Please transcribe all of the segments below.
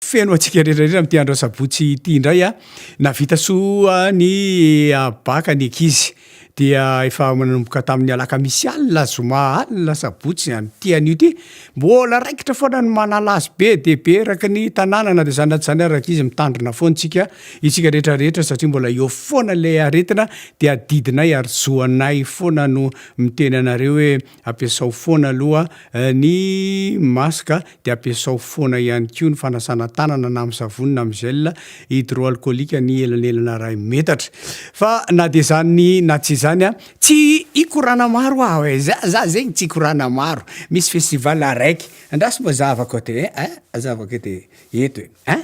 Feno antsika redrarera amin'ity andro asabotsy ity indray a! Nahavita soa ny bacc ny ankizy dia efa nanomboka tamin'ny alakamisy alina, zoma alina, sabotsy an'ity anio ity. Mbola raikitra foana ny manala azy be dia be eraky ny tanàna na dia izany na tsy izany ary ankizy mitandrina foana isika, isika rehetra rehetra satria mbola eo foana ilay aretina dia adidinay ary zoanay foana no miteny anareo hoe Ampiasao foana aloha ny masque a, dia ampiasao foana ihany koa ny fanasana tanana na amin'ny savony na amin'ny gel hydroalcoolique ny elanelana iray metatra. Fa na dia izany na tsy izany a, tsy hikorana maro aho e, za za zegny tsy hikorana maro, misy festival araiky, andraso mba zahavako aty e, a zahavako aty eto e, a.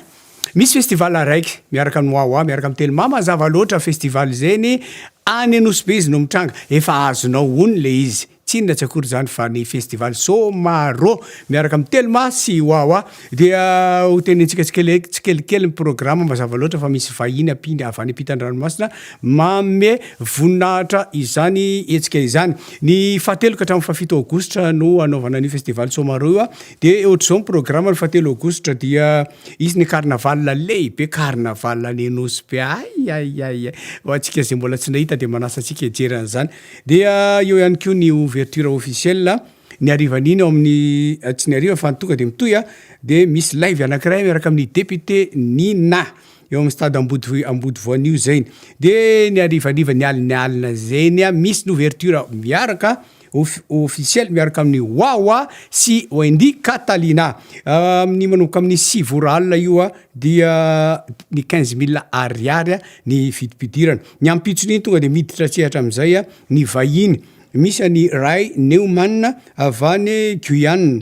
Misy festival araiky miaraka amin'ny Wawa miaraka amin'ny Telma mazava loatra festival zeny any Anosibe izy no mitranga efa azonao ono le izy tsy inona tsy akory zany fa ny festival Somaro miaraka amin'ny Telma sy Wawa dia ho tenenintsika tsikele- tsikelikely ny programa mazava loatra fa misy vahiny ampinga avy any ampitan-dranomasina manome voninahitra izany hetsika izany ny fahateloka hatramin'ny fahafito aogositra no hanaovana an'io festival Somaro io Dia ohatr'izao ny programa ny fahatelo aogositra dia hisy ny carnaval lehibe carnaval any Anosy be ay ay ay ho antsika izay mbola tsy nahita dia manasa antsika hijery an'izany dia eo ihany koa ny ouverture officielle ny harivan'iny ao amin'ny eh, tsy ny hariva fa ny tonga dia mitohy ah. dia misy live anankiray miaraka amin'ny député Nina eo amin'ny stade Ambodivohi- Ambodivoanio zainy dia ny harivariva ny alin'ny alina zainy ah, misy ny ouverture miaraka Ofisialy miaraka amin'ny Wawa sy Wendy Catalina. Amin'ny manomboka amin'ny sivy ora alina io dia ny quinze mille ariary ny vidim-pidirana. Ny ampitson'iny tonga dia miditra an-tsehatra amin'izay ny vahiny. Misy an'i Ray Newman avy any Guyane.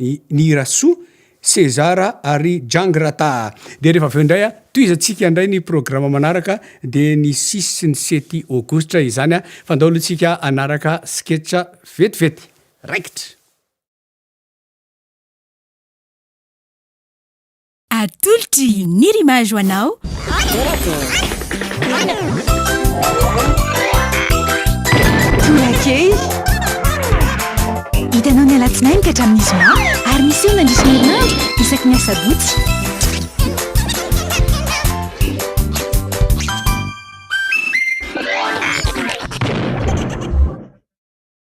I Nirasoa, César ary Jang Ratah. Dia rehefa avy eo indray, tohizantsika indray ny programa manaraka, dia ny six sy ny sept aogositra izany, fa andao aloha tsika hanaraka sketch vetivety. Raikitra! Atolotry ny Rimage ho anao. Torakely. Hitanao ny alatsinainy ka hatramin'ny zoma ary miseho mandritra ny herinandro isaky ny asabotsy.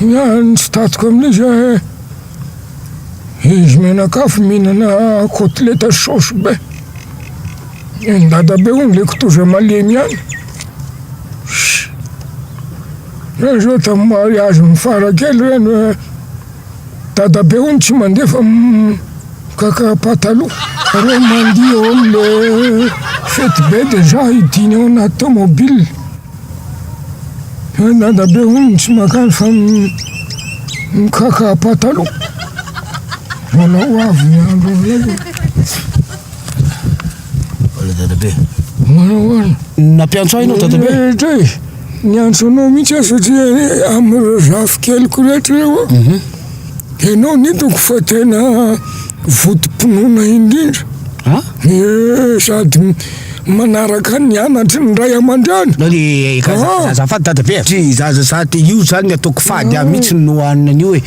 Ny tsy tatiko amin'izy eh. Izy mianakafo mihinana kotileta saosy be. Ny dadabe hono le kitoza malemy ihany. Zao tamin'ny mariazy ny farakely reny hoe Dadabe hono tsy mandefa kaka pataloha reo mandihy eo am le fety be de za hidiny ao anaty tomobile fa dadabe hono tsy makany fa mikaka pataloha mbola ho avy ny andro aminay. Hola dadabe. Manao ahoana? Nampiantso ahy ianao dadabe. Eh, Tay, niantso anao mihitsy aho satria eh, amin'ireo zafikeliko rehetra ireo aho. Mhm. Dia ianao no hitako fa tena votom-pinoana indrindra. Ha? Eh, sady m- manaraka ny anatry ny ray aman-dreny. Nao ny eh, Ah. azafady dadabe. Tsy zaza sady io zany ny ataoko fady ahy mihitsy no anina an'io e.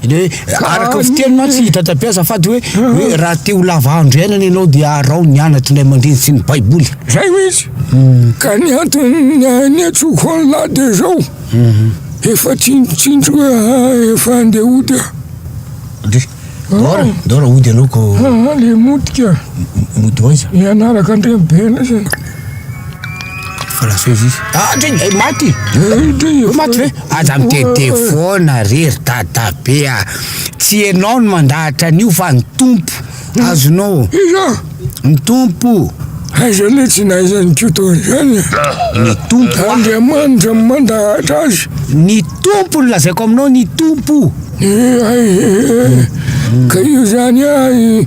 Le araka ny fiteny mantsy i dadapiasa fady hoe hoe raha te ho lava andro iainana ianao dia araho ny anatry ilay mandreny sy ny baiboly zay ho izy hmm. ka ny antony ny atsoko any lahy dia zao hmm. efa tsinotsinto eh, efa andeha hody ah de dora ah. dora hody anao ko ah, le motika mody hoaiza ianaraka andreny bela zany Adreny maty maty ve? Aza mitete foana re ry dadabe a! Tsy ianao no mandahatra an'io fa ny Tompo, azonao? Iza? Ny Tompo! Aiza le tsy naiza an'iko toa an'izany a! Ny Tompo! Andriamanitra no mandahatra azy! Ny Tompo no lazaiko aminao, ny Tompo! Ka io zany a!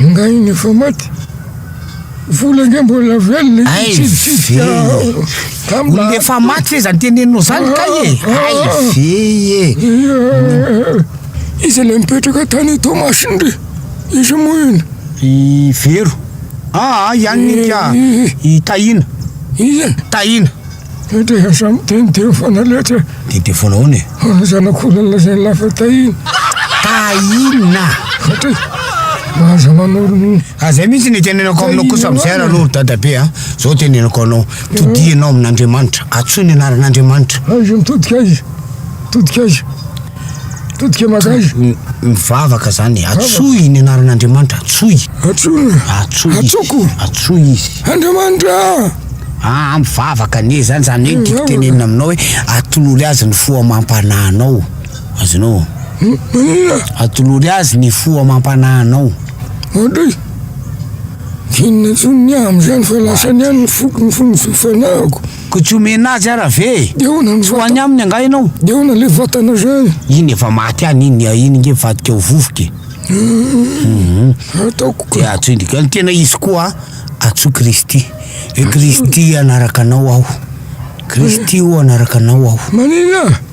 Ingahy ny efa maty? Vola nge mbola velona Hay ve Olona efa maty ve zany teneninao zany kay e Hay ve e Iza ilay mipetraka tany Toamasina re Iza moa iny I Vero Aa ihany ny ka I Tahina Iza Tahina Dia dia samy dia ny dia foana letra e. Dia dia foana hoana e. Ho ny zanak'olona izay nilafa tahina. Tahina! Fatay, aza manoro ny. Ka zay mihitsy ny tenenako aminao kosa amin'izay ranoro dadabe a. Zao tenenako anao, todianao amin'Andriamanitra, antsoy ny anaran'Andriamanitra. Aiza mitodika aiza? Mitodika aiza? Todika mazava. M- mivavaka zany e. Atsoy ny anaran'Andriamanitra, atsoy. Atsoy. Atsoy. Atsoko. Atsoy izy. Andriamanitra. Ah, mivavaka anie zany zany hoe tiako tenenina aminao hoe atolory azy ny fo amam-panahinao. Azonao? Hmm, maninona? Atolory azy ny fo amam-panahinao. Ohatry inona intsony ny amin'izany fa lasany ihany ny foko ny fo ny fanahiko. Koa tsy omena azy ara ve e! Dia ahoana ny vatana? Tsy ho any aminy angaha ianao? Dia ahoana ilay vatana indray e! Iny efa maty any iny, iny nge mivadika ho vovoka e! Hum! Ataoko ka! Dia antsoy ny, ny tena izy koa antsoy Kristy. Hoe Kristy hanaraka anao aho. Kristy o hanaraka anao aho. Maninona?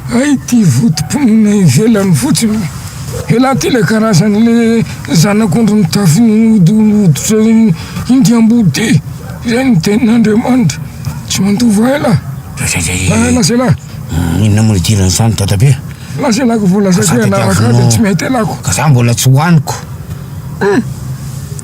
Hay ty votom-ponina ivelany fotsiny. Elah ty le karazany le zanak'ondry mitafy ny hoditra inty ambody ty, zay ny tenin'Andriamanitra, tsy mandova elah. Elah selah. Inona moa idiran'ny samy dada be a? Elah selah ko voalazako hoe hanaraka ahy de tsy mety elah ko. Ka za mbola tsy hoaniko.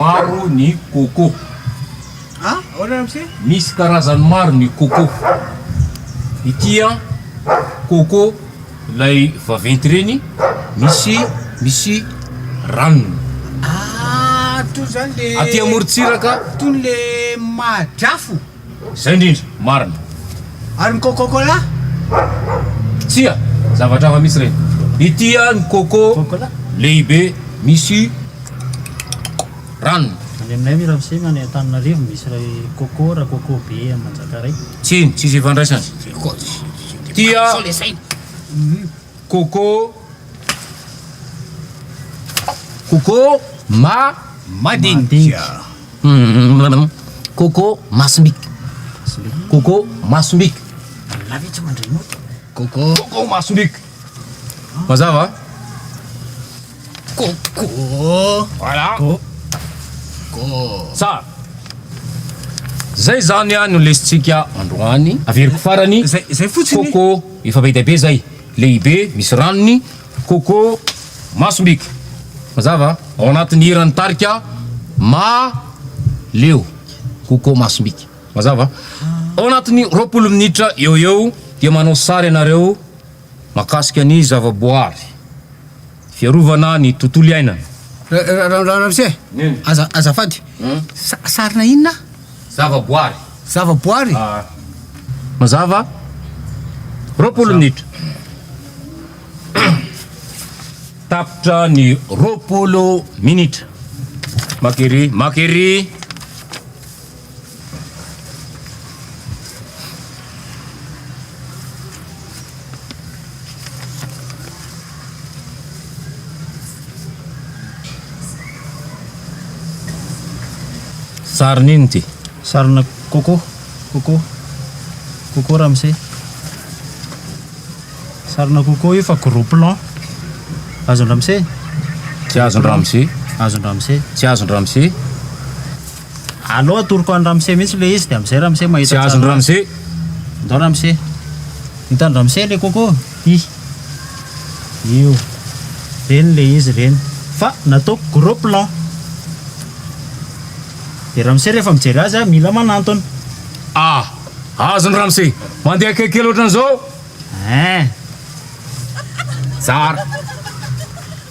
Maro ny coco. Misy karazany maro ny coco. Ity an, coco ilay vaventy reny, misy misy ranony. Aty amorontsiraka. Izay indrindra, marina. Ary ny coco cola? Tsia, zavatra hafa mihitsy ireny. Ity ah ny coco lehibe misy ranony. Any aminay anie ramose any Antananarivo misy iray coco ra coco be any Manjakaray. Tsiny, tsisy ifandraisany. Tia. Coco Coco ma madinika Coco masom-bika Coco masom-bika Coco Coco masom-bika Mazava a? Coco Voilà Coco Tsara Zay zany no lesintsika androany Averiko farany Coco Efa be dia be zay. Lehibe, misy ranony, coco, masombika. Mazava? Ao anatin'ny hiran'ny tarika Ma leo, coco masombika. Mazava? Ao anatin'ny roapolo minitra eo ho eo dia manao sary ianareo makasika ny zavaboary. Fiarovana ny tontolo iainana. Ramose, azafady, sarina inona? Zavaboary. Zavaboary? Mazava? Roapolo minitra. Tapitra ny roapolo minitra. Maka ery, maka ery. Sarin'ino ty? Sarina coco, coco, coco ramose. Sarina coco io fa gros plan. Azon-dramose? Tsy azon-dramose. Azon-dramose. Tsy azon-dramose. Alou atoroko any ramose mihitsy le izy de amizay ramose mahita tsara. Tsy azony ramose. Ndao ramose. Hitany ramose le coco. Hi. Io. Reny le izy reny. Fa nataoko gros plan. De ramose rehefa mijery azy a mila manantona. Ah. Azony ramose. Mandeha akaiky kely otran'izao. Hein. Tsara.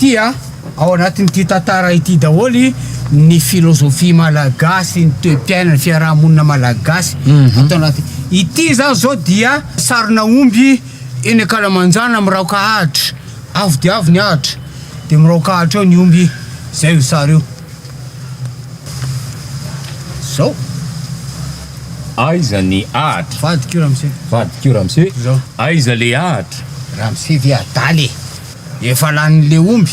Ity a, ao anatin'ity tantara ity daholo ny philosophie malagasy, ny toe-piaina, ny fiaraha-monina malagasy ato anaty. Ity zany zao dia sarina omby eny ankalamanjana miraoka ahitra, avo dia avo ny ahitra de miraoka ahitra eo ny omby, zay io sary io. Zao. Aiza ny ahitra? Vadiko io ramose. Vadiko io ramose. Aiza le ahitra? Ramose ve adala e. Efa lany le omby.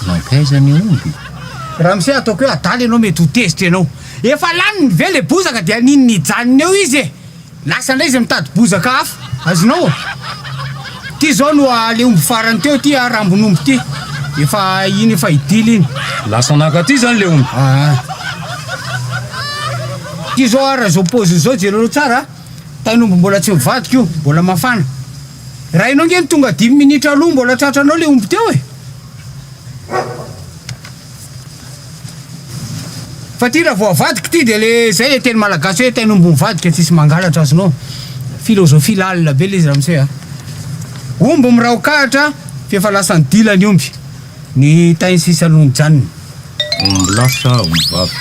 Mankaiza ny omby? Ramose ataoko hoe adala ianao mety ho tezitra ianao. Efa laniny ve le bozaka dia nini nijanona eo izy e? Lasa indray izy mitady bozaka hafa. Azonao? Ty izao no a le omby farany teo ty a rambon'omby ty. Efa iny efa hidila iny. Lasa naka aty izany le omby. Aa. Ty izao ara izao paoziny izao jereo tsara a. Tain'omby mbola tsy mivadika io, mbola mafana. Rainao nge ny tonga dimy minitra aloha mbola tratranao le omby teo e! Fa ty raha vao avadiko ty de le zay e teny malagasy hoe teny omby mivadika tsisy mangalatra azy no philosophie lalina be le izy ramose a! Omby miraokahatra f'efa lasan'ny dila ny omby. Ny tainy sisa aloha mijanona. Omby lahy sa omby vavy?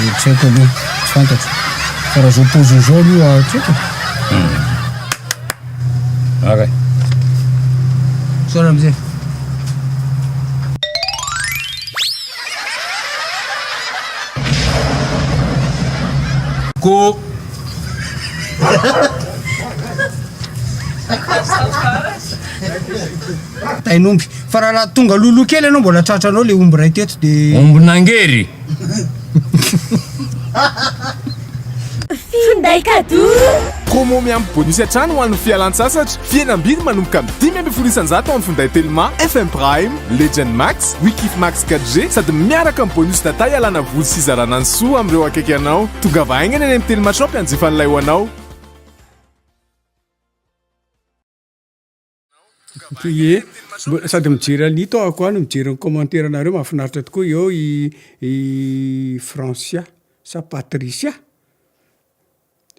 Dia tsy haiko aloha, tsy fantatro. Fa raha izao paoziny izao aloha tsy haiko e. Ara e. Misaotra Ramose. Ko. Tain'omby. Fa raha raha tonga loloha kely ianao mbola tratranao le omby iray teto de. Ombin'angery. Finday cadeau. Promo miampy bonus hatrany ho an'ny fialantsasatra, fihenam-bidy manomboka amin'ny dimy ambin'ny folo isan-jato amin'ny finday Telma, FM Prime, Legend Max, Wikif Max 4G sady miaraka amin'ny bonus data hialana voly sy hizarana ny soa amin'ireo akaiky anao. Tongava haingana eny amin'ny Telma Shop hanjifa an'ilay ho anao. Ye, sady mijery an'ito aho koa no mijery ny commentaire anareo mahafinaritra tokoa eo i i Francia sa Patricia?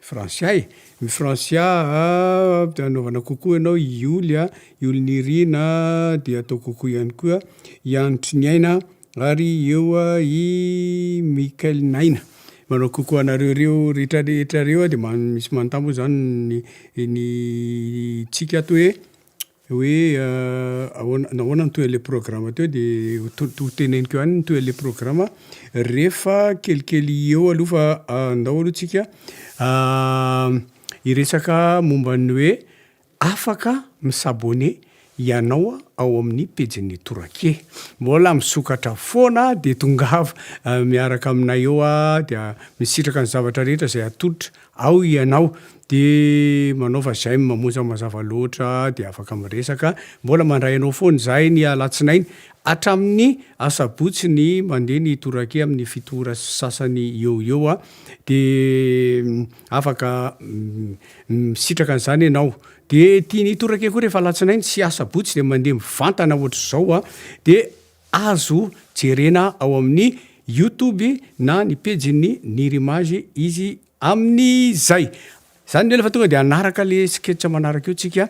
Francia e! I Francia a anaovana coucou anao, i Ioly a, Ioly Nirina dia atao coucou ihany koa, i Andry Triniaina. Ary eo i Michael Naina. Manao coucou anareo reo rehetra rehetra reo de misy manontany moa zany ny ny tsika ato hoe hoe ahoana nahoana nitohy anle programa teo de ho teneniko ihany nitohy anle programa refa kelikely eo aloha fa andao aloha tsika hiresaka momba ny hoe Afaka mi s'abonner ianao ao amin'ny pejin'ny Torakie. Mbola misokatra foana dia tongava miaraka aminay eo dia misitraka ny zavatra rehetra izay atolotra ao ianao dia manaova j'aime mamonja mazava loatra dia afaka miresaka mbola mandray anao foana izahay ny alatsinainy hatramin'ny asabotsy ny mandeha ny Torakie amin'ny fito ora sy sasany eo ho eo dia Afaka misitraka an'izany ianao. Dia ity ny torake koa rehefa alatsinainy sy asabotsy dia mandeha mivantana ohatr'izao a. Dia azo jerena ao amin'ny youtube na ny pejin'ny Nirimage izy amin'izay. Izany ny hoe rehefa tonga dia hanaraka le sketch manaraka eo tsika.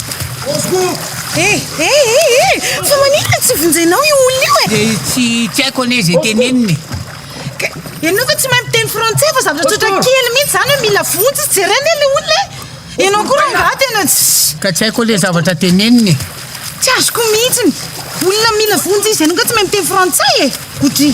Eh eh eh eh! Fa maninona tsy vonjenao io olona io e? Dia tsy tsy haiko anie izay tenenina e. Ka- Ianao ve tsy mahay miteny frantsay fa zavatra tsotra kely mihitsy zany hoe mila vonjy tsy jerena anie le olona e. Ianao koa rangaha tena tsy Ka tsy haiko ilay zavatra tenenina e. tsy azoko mihitsy. Olona mila vonjy izy ianao nga tsy mahay miteny frantsay e. Godry.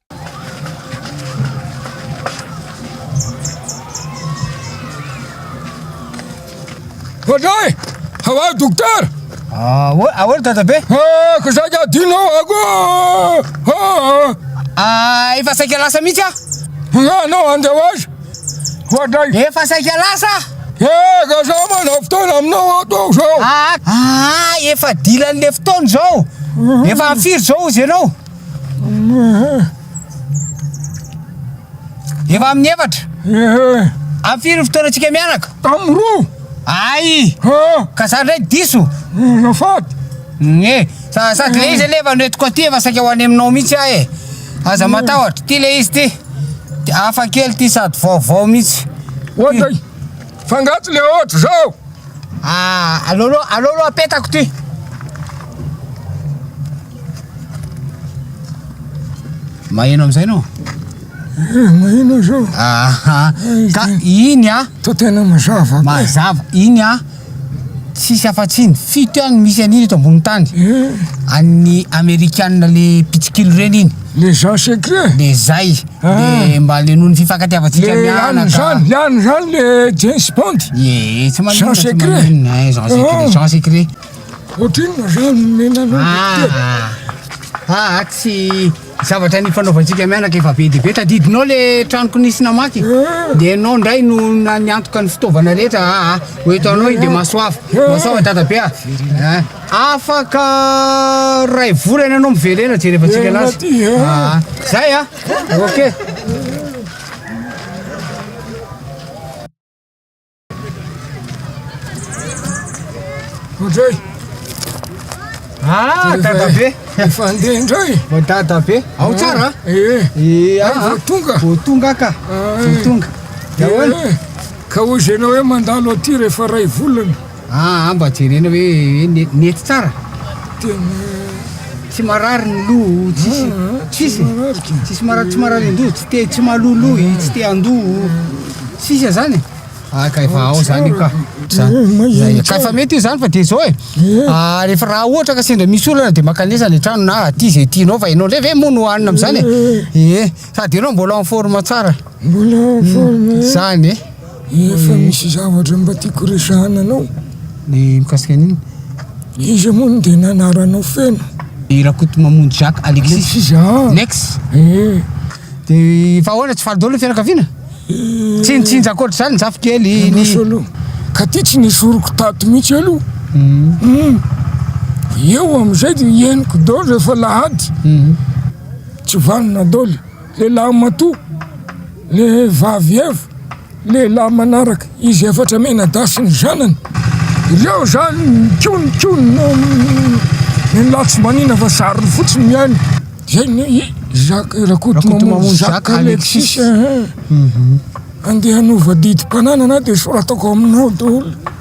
Olay! Hawa dokotera! Ah, ahoana ahoana dadabe? Ah, ka saika adino ako! Ah, ah, efa saika lasa mihitsy ah! Nga anao andeha ho azy! Hoatray! Efa saika lasa! Eh, ka sa manao fotoana aminao ato aho zao! Ah, ah, efa dilan'le fotoana zao! Efa firy zao izy ianao? Efa amin'ny efatra. Amin'ny firy ny fotoanantsika mianaka? Amin'ny roa. Ay! Ka za ndray diso. Azafady. Nge, sady le izy anie efa noentiko aty efa saika ho any aminao mihitsy aho e. Aza matahotra, ty le izy ty. Hafa kely ty sady vaovao mihitsy. Ohatry. Fa nga tsy le ohatry zao? Ah, aleo aloha, aleo aloha apetako ty. Maheno amizay no? Eh, maheno zao. Aha, eh, ka iny ah. To tena mazava. Mazava, iny ah. Tsisy afatsiny, fito ihany misy an'iny eto ambony tany. Eh. An'ny Amerikana le pitsikilo reny iny. Le Jean Secret? Le zay, le mba alenoy ny fifankatiavantsika mianaka. Le any zany, le any zany le James Bond. Ie, tsy maninona, tsy maninona, eh, Jean Secret, Jean Secret. Ohatrinona zany omena anao Docteur? Ah, ah, ah, tsy zavatra nifanaovantsika mianaka efa be dia be, tadidinao le tranoko nisy namaky? De ianao ndray no niantoka ny fitaovana rehetra, ah, ah, ho eto anao iny de mahasoava, mahasoava dadabe ah, ah. Afaka ray volana ianao miverena jerevantsika anazy aa zay a ok. Andray! Ah dadabe! Efa handeha indray! Vao dadabe! Ao tsara a? Eh! Eh ah! Vao tonga? Vao tonga ka! Vao tonga! Ka hoy izy ianao hoe mandalo aty rehefa iray volana? Aa mba jerena hoe nety tsara? Tena tsy marary ny loha o tsisy tsisy tsisy marary tsy marary an-doha tsy te tsy maloloha i tsy te an-doha o sisa zany ah ka efa ao zany io ka zany ka efa mety io zany fa de zao e ah rehefa raha ohatra ka sendra misy olana de makanesa any an-trano na aty zay tianao fa ianao ndray ve moa no hanina am'zany e eh sady ianao mbola en forme tsara mbola en forme zany e Efa misy zavatra mba tiako resahana anao. Ny mikasika an'inona? Iza moa no tena anaranao feno? I Rakotomamonjy Jacques Alexis. Alexis a! Lex. Eh. Dia fa ahoana tsy faly daholo ny fianakaviana? Tsy nitsinja ankoatr'izany ny zafikely, ny. Ianao sao aloha. Ka ity tsy nesoriko tato mihitsy aloha. Hum. Eo amin'izay dia henoko daholo rehefa lahady. Tsy vanona daholo. Lehilahy matoa, le vavy evo, lehilahy manaraka izy efatra mianadahy sy ny zanany, ireo zany kihony kihony no ny latsimbanina fa zariny fotsiny mihaino, zay ny hoe Jacques Rakotomamonjy Jacques Alexis, andeha hanova didim-pananana dia soratako aminao daholo.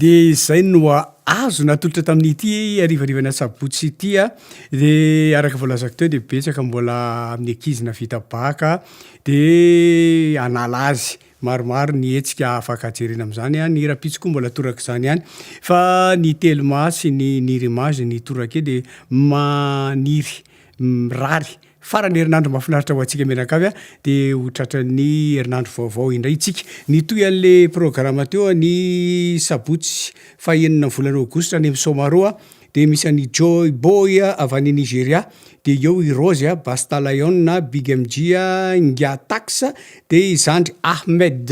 de zay noa azo natolotra tamin'ity arivarivana sabotsy itya de araka voalazako teo de betsaka mbola amin'ny akizina vita baka de anala azy Maromaro ny hetsika afaka jerena amin'izany an, ny rahampitso koa mbola torak'izany ihany fa ny telma sy ny nir image ny torake dia maniry mirary farany herinandro mahafinaritra ho antsika mianakavy an, dia ho tratran'ny herinandro vaovao indray isika. Nitohy an'le programa teo an, ny sabotsy fahenina ny volana aogositra any amin'ny somaro an, Dia misy an'i Joy Boy avy any Nigeria, dia eo i Rozy a, Basta Lion a, Big MG a, Inga Tax, dia i Zandry Ahmed.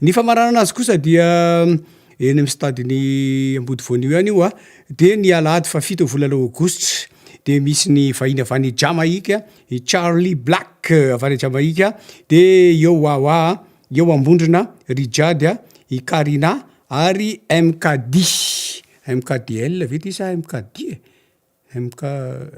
Ny famaranana azy kosa dia eny amin'ny stadin'i Ambodivoanio ihany io a, dia ny alahady fahafito volana aogositra. Dia misy ny vahiny avy any Jamaïque, i Charly Black avy any Jamaïque, dia eo Wawa, eo Ambondrona, Rijade, i Karina ary MKD. MKDL ve ty sa MKD e? MK,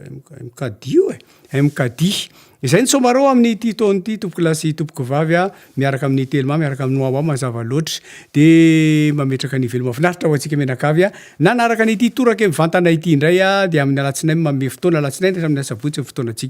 MK, MKDIO e? MKDI. Izay ny tsômbarao amin' ity taona ity tompoko lahy sy tompoko vavy a, miaraka amin' i Telma, miaraka amin' i Noa Noa mazava loatra. Dia mametraka ny veloma finaritra ho antsika mianakavy a. Nanaraka an' ity torake mivantana ity indray a, dia amin' ny alatsinainy manome fotoana, alatsinainy hatramin' ny asabotsy ny fotoanantsika.